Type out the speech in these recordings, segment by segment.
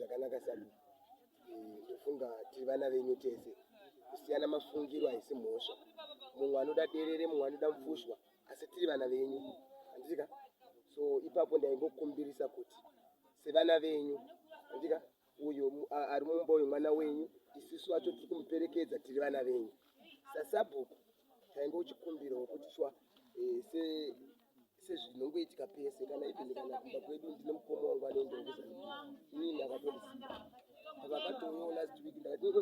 zvakanaka sabu ndofunga tiri vana venyu tese kusiyana mafungiro haisi mhosva mumwe anoda derere mumwe anoda mupfushwa asi tiri vana venyu andika so ipapo ndaingokumbirisa kuti sevana venyu andika uyo ari mumba uyu mwana wenyu isusu vacho tiri kumuperekedza tiri vana venyu sasabhuku tainge uchikumbira wekuti swa eh, se sezvinongoitika pese kana ipindi kana kumba kwedu ndine mukoma wangu anoendeuza ini ndakatondisiya vakatouyawo last week ndakati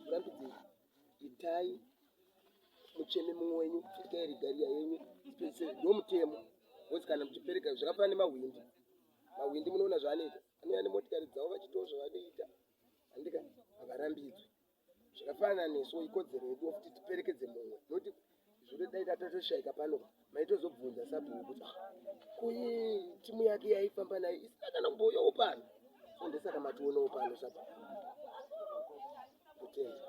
kurambidzei itai mucheme mumwe wenyu itai rigariya yenyu ndomutemo wonzi kana muchipereka zvakafanana nemahwindi mahwindi munoona zvaanoita Ani ani motikari dzavo vachitawo zvavanoita handika havarambidzwi zvakafanana nesu ikodzero yedu kuti tiperekedze mumwe noti zvino dai tatatoshaika pano maitozobvunza sabhuku kuti ah, kuyi timu yake yaifamba nayo isina kana kumboyawo pano so ndesaka mationawo pano sabhuku kutenda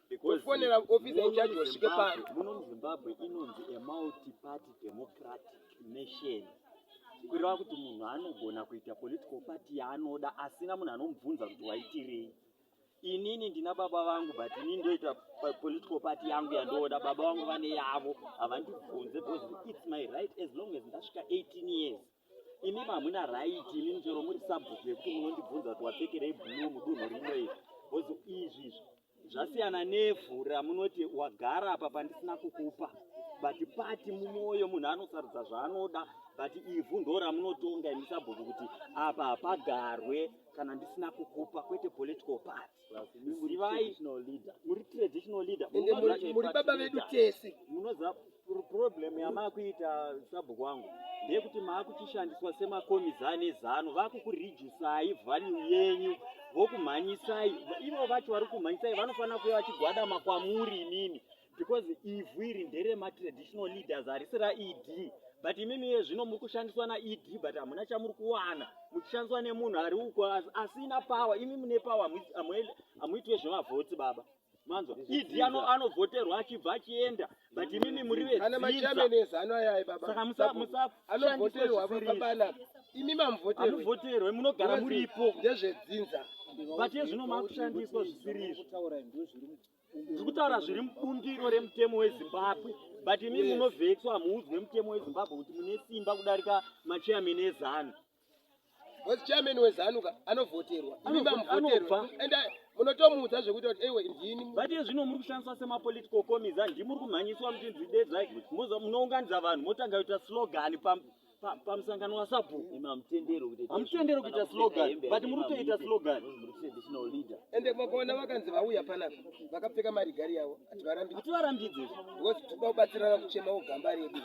kufonera officer in charge wasvike pano muno muzimbabwe inonzi a multiparty democratic nation kureva kuti munhu anogona kuita political party yaanoda asina munhu anomubvunza kuti waitirei inini ndina baba vangu but ini ndoita political party yangu yandooda baba vangu vane yavo havandibvunze because its my right as long as ndasvika 18 years imi mamuna right imi njero muri subject yekuti munondibvunza kuti wapfekerei blue mudunhu rino iri bcause izvi izvi zvasiyana nevhu ramunoti wagara apa pandisina kukupa but pati mumwoyo munhu anosarudza zvaanoda but ivhu ndo ramunotonga imi sabhuku kuti apa hapagarwe kana ndisina kukupa kwete political party zivai muri traditional leader muri baba vedu tese munoziva problem yamakuita sabhuku wangu ndeyekuti maakuchishandiswa semakomiza ane zano vakukurijusai value yenyu vokumhanyisai ivo vacho vari kumhanyisai vanofanira kuya vachigwadama kwamuri imimi because ivhu iri nderematraditional leaders harisi raed but imimi iye zvino muri kushandiswa naed but hamuna chamuri kuwana muchishandiswa nemunhu ari uko asina power imi mune power hamuitwe zvemavhoti baba manzwa ed anovhoterwa achibva achienda but imimi muri vedzinsaka imi mamuvhoterwe munogara muripo ndezvedzinza but ezvino makushandiswa zvisiri izvo ndiri kutaura zviri mubundiro remutemo wezimbabwe but imi munovhexwa hamuudzwe mutemo wezimbabwe kuti mune simba kudarika machairman ezanu was chairman wezanu ka anovhoterwa imi mamuvhoterwa and munotomuudza zvekuti kuti ewe ndini but iye zvino muri kushandiswa semapolitical comiza ndimuri kumhanyiswa muchinzi dedzai munounganidza vanhu motanga kuita slogan pamusangano wasabhuku hamutendero kuita slogan but muri kutoita slogan ende makaona vakanzi vauya panapa vakapfeka marigari yavo hativarambidze because toda kubatsirana kuchema ogamba redu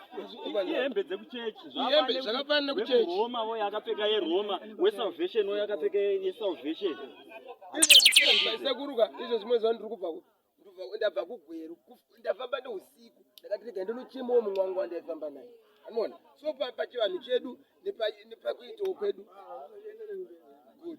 ihembe dzekuchechi ihembe zvakafanana nekuchechi roma voyo akapfeka yeroma wesalvation voyo akapfeka yesalvation izvo zvikuruka izvo zvimwe zvandiri kubva kupi ndabva kugweru ndafamba neusiku ndakati rega ndinochemawo mumwe wangu wandaifamba naye anoona so pachivanhu chedu nepakuitawo kwedu good good